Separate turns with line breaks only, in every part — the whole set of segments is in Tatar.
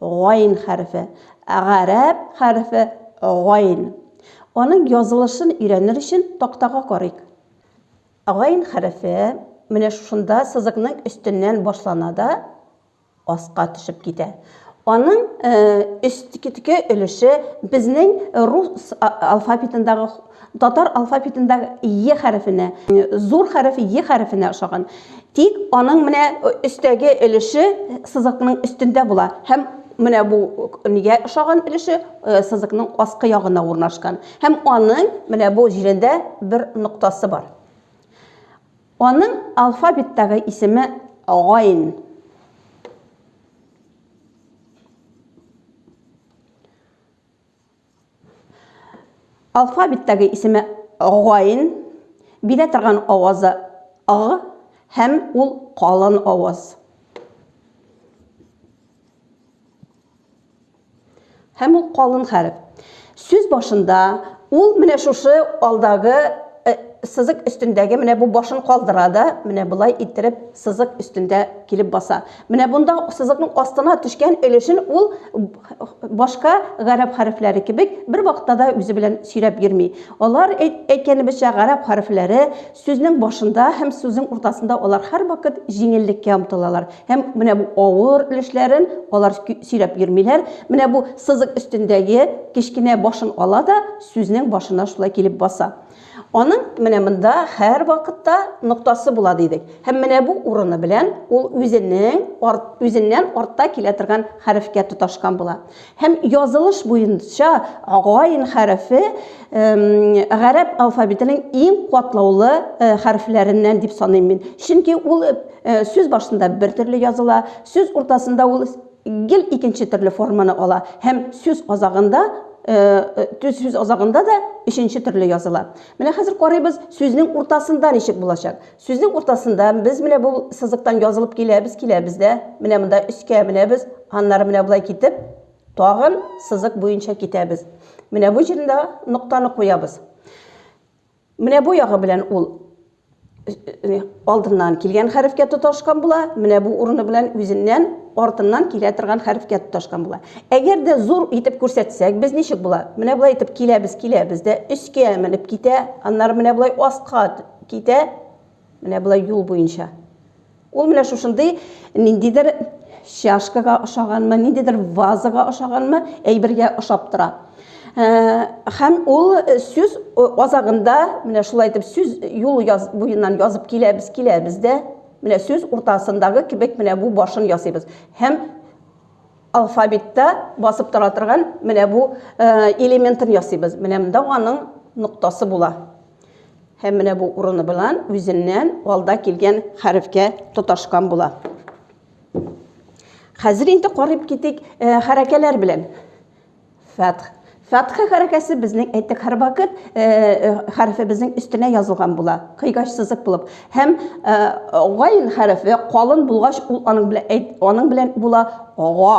Гайн хәрефе. Гарәп хәрефе гайн. Аның язылышын өйрәнер өчен тактага карыйк. Гайн хәрефе менә шушында сызыкның өстеннән башлана да аска төшеп китә. Аның өстке өлеше безнең рус алфавитындагы Татар алфавитында е хәрефенә, зур хәреф е хәрефенә ошаган. Тик аның менә өстәге өлеше сызыкның өстендә була һәм менә бу нигә ошаган өлеше сызыкның аскы ягына урнашкан. Һәм аның менә бу җирендә бер ноктасы бар. Аның алфавиттагы исеме гайн. Алфавиттәге исеме гайн, бирә торган авазы а һәм ул калын аваз. Һәм ул калын хәреф. Сүз башында ул менә шушы алдагы э, сызык өстендәге менә бу башын калдыра да, менә болай иттереп сызык өстендә килеп баса. Менә бунда сызыкның астына төшкән өлешен ул башка гарәп хәрефләре кебек бер вакытта да үзе белән сөйрәп йөрми. Алар әйткәнебезчә гарәп хәрефләре сүзнең башында һәм сүзнең уртасында алар һәрвакыт җиңеллеккә омтылалар. Һәм менә бу авыр өлешләрен алар сөйрәп йөрмиләр. Менә бу сызык өстендәге кечкенә башын ала да сүзнең башына шулай килеп баса. Аның менә монда һәрвакытта ноктасы була дидек. Һәм менә бу урыны белән ул үзенең арт, үзеннән артта килә торган хәрефкә тоташкан була. Һәм язылыш буенча гайн хәрефе гарәп алфавитының иң катлаулы хәрефләреннән дип саныйм мин. Чөнки ул сүз башында бер төрле языла, сүз уртасында ул Гел икенче төрле форманы ала һәм сүз азагында төз сүз азагында да өченче төрле языла. Менә хәзер карыйбыз, сүзнең уртасында ничек булачак. Сүзнең уртасында без менә бу сызыктан язылып киләбез, киләбез дә, менә монда өскә менәбез, аннары менә болай китеп, тагын сызык буенча китәбез. Менә бу җирендә ноктаны куябыз. Менә бу ягы белән ул алдыннан килгән хәрефкә тоташкан була, менә бу урыны белән үзеннән артыннан килә торган хәрефкә тоташкан була. Әгәр дә зур итеп күрсәтсәк, без ничек була? Менә болай итеп киләбез, киләбез дә өскә менеп китә, аннары менә болай аска китә, менә болай юл буенча. Ул менә шушындый ниндидер чашкага ошаганмы, ниндидер вазага ошаганмы, әйбергә ошап тора. Һәм ул сүз азагында менә шулай итеп сүз юл яз, буеннан язып киләбез, киләбез дә, менә сүз уртасындагы кебек менә бу башын ясыйбыз. Һәм алфавитта басып тора торган менә бу элементын ясыйбыз. Менә монда аның ноктасы була. Һәм менә бу урыны белән үзеннән алда килгән хәрефкә тоташкан була. Хәзер инде карып китик э, хәрәкәләр белән. Фәтх. Фәтхә хәрәкәсе безнең әйтек һәр вакыт э, э, хәрефе безнең өстенә язылган була, кыйгач сызык булып. Һәм гайн хәрефе калын булгач, ул аның белән әйт, аның белән була га.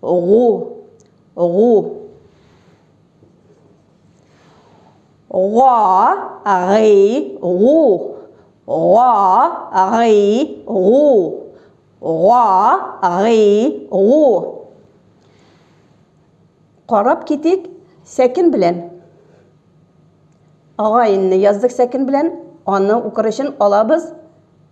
гу гу га гый гу га гый гу га гый гу Карап китик сәкен белән. Агайынны яздык сәкен белән. Аны укыр өчен алабыз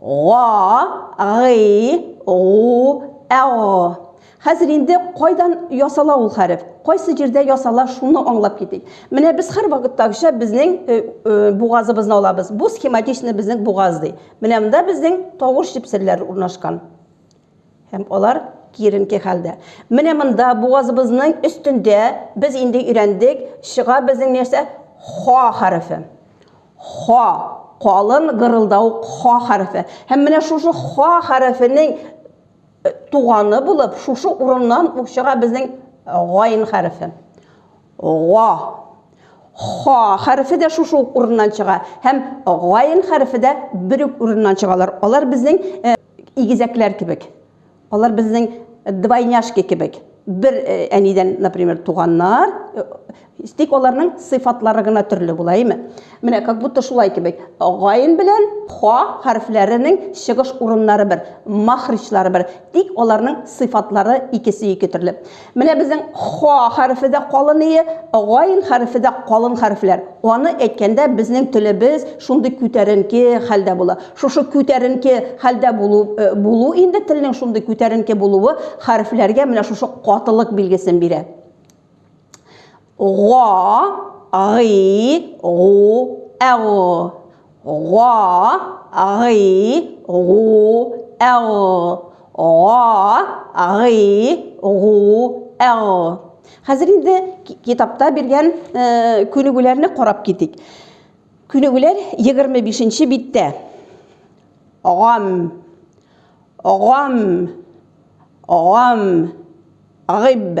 Га-гый-гу-әг. Хәзер инде кайдан ясала ул хәреф, кайсы җирдә ясала, шуны аңлап китик. Менә без һәрвакыттагыча безнең э, э, бугазыбызны алабыз. Бу схематичный безнең бугаз ди. Менә монда безнең тавыш җепсерләре урнашкан. Һәм алар киеренке хәлдә. Менә монда бугазыбызның өстендә без инде өйрәндек, чыга безнең нәрсә? Ха хәрефе. Ха, калын гырылдау ха хәрефе. Һәм менә шушы ха хәрефенең э, туганы булып, шушы урыннан ук чыга безнең гайн хәрефе. Га. Ха хәрефе дә шушы ук урыннан чыга һәм гайн хәрефе дә бер үк урыннан чыгалар. Алар безнең э, Игезәкләр кебек. Алар безнең двойняшки кебек. Бер э, әнидән, например, туганнар, э, тик аларның сыйфатлары гына төрле була, әйме? Менә как будто шулай кебек. Гайн белән ха хәрефләренең чыгыш урыннары бер, махричлары бер, тик аларның сыйфатлары икесе ике төрле. Менә безнең ха хәрефе дә калын ие, гайн хәрефе дә калын хәрефләр. Аны әйткәндә безнең телебез шундый күтәренке хәлдә була. Шушы күтәренке хәлдә булу булу инде телнең шундый күтәренке булуы хәрефләргә менә шушы катылык билгесен бирә. Га, гый, гу, әг. Га, гый, гу, әг. Га, гый, гу, әг. Хәзер инде китапта биргән күнегүләрне карап китик. Күнегүләр 25 нче биттә. Гам, гам, гам, гиб.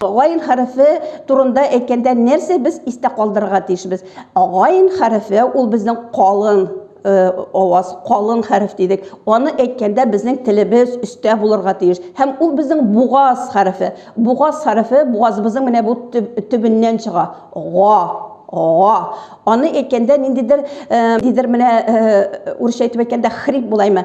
Гайн хәрефе турында әйткәндә нәрсә без истә калдырырга тиешбез? Гайн хәрефе ул безнең калын аваз, калын хәреф дидек. Аны әйткәндә безнең телебез өстә булырга тиеш. Һәм ул безнең бугаз хәрефе. Бугаз хәрефе бугазыбызның менә бу төбеннән чыга. Га, га. Аны әйткәндә ниндидер, ниндидер менә урысча әйтеп әйткәндә хрип булаймы?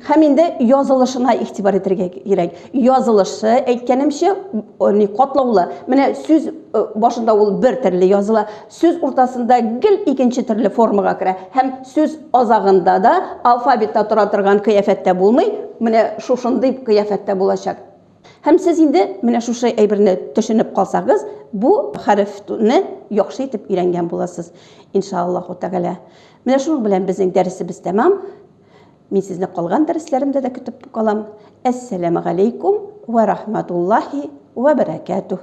Һәм инде язылышына игътибар итәргә кирәк. Язылышы, әйткәнемчә, ни катлаулы. Менә сүз э, башында ул бер төрле языла, сүз уртасында гел икенче төрле формага керә һәм сүз азагында да алфавитта тора торган кыяфәттә булмый, менә шушындый кыяфәттә булачак. Һәм сез инде менә шушы әйберне төшенеп калсагыз, бу хәрефне яхшы итеп өйрәнгән буласыз, иншааллаһу тәгалә. Менә шуның белән безнең дәресебез тәмам. Мин сезне калган дәресләремдә дә көтеп калам. Әссәламәгаләйкүм вә рахматуллаһи вә бәрәкәтүһ.